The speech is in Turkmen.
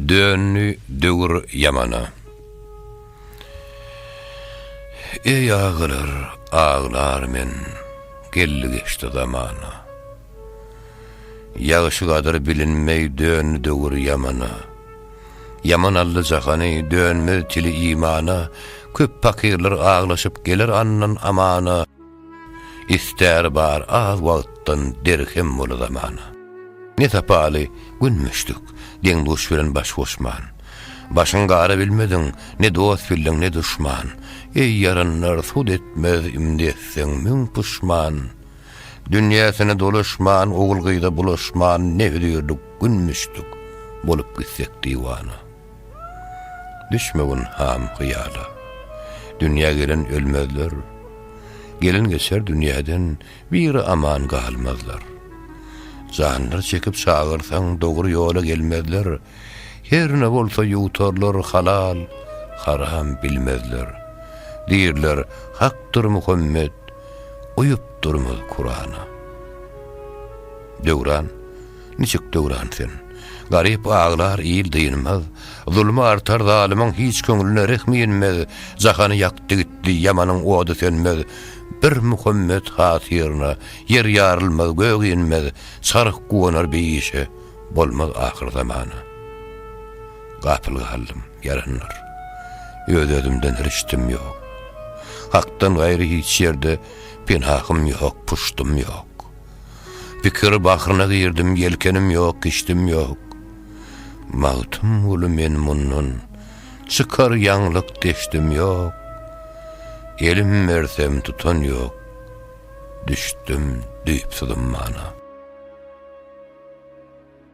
Döndi döwür ýamana. Eý agalar, aglar men, Geldi geçdi zamana. Ýagşy gadyr bilinmeý Döndi döwür ýamana. Ýaman aldy jahany, Dönmez tili imana, Köp pakyrlar aglaşyp Geler andan amana. Istäri bar az wagtdan derhem bola zamana. Ne sapaly gün müşdük, deň-duş bilen baş goşman. Başyň gara bilmediň, ne dost bildiň, ne duşman. Eý ýaranlar, sud etmez, imdi etseň müň puşman. Dünýäsine dolaşman, ogul-gyza bulaşman, ne hödürlik gün müşdük, bolup gitsek diwana. Düşmegin ham hyýala. Dünýä gelen ölmezler. Gelen geçer dünýäden biri aman galmazlar. Janlar çekip çagyrsaň dogry ýola gelmezler. Her ne bolsa ýuwtarlar halal, haram bilmezler. Diýrler hakdyr Muhammet, uýupdyrmyz Kurana. Döwran. niçik döwran sen? Garyp aglar, il dynmaz, Zulmy artar zalymyň hiç köňlüne rehmi inmez, Jahany ýakdy gitdi, ýamanyň ody sönmez, Bir Muhammet hatyryna, ýer ýarylmaz, gök inmez, Çarh guwanar beýişe, bolmaz ahyr zamana. Gapyl galdym, ýaranlar. Öz-özümden rişdim ýok. Hakdan gaýry hiç ýerde penahym ýok, puşdym ýok. Pikir bahryna girdim, ýelkenim ýok, kişdim ýok. Magtymguly men mundan çykar ýaňlyk deşdim ýok. Elim bersem tutan ýok, düşdüm düýpsüz ummana.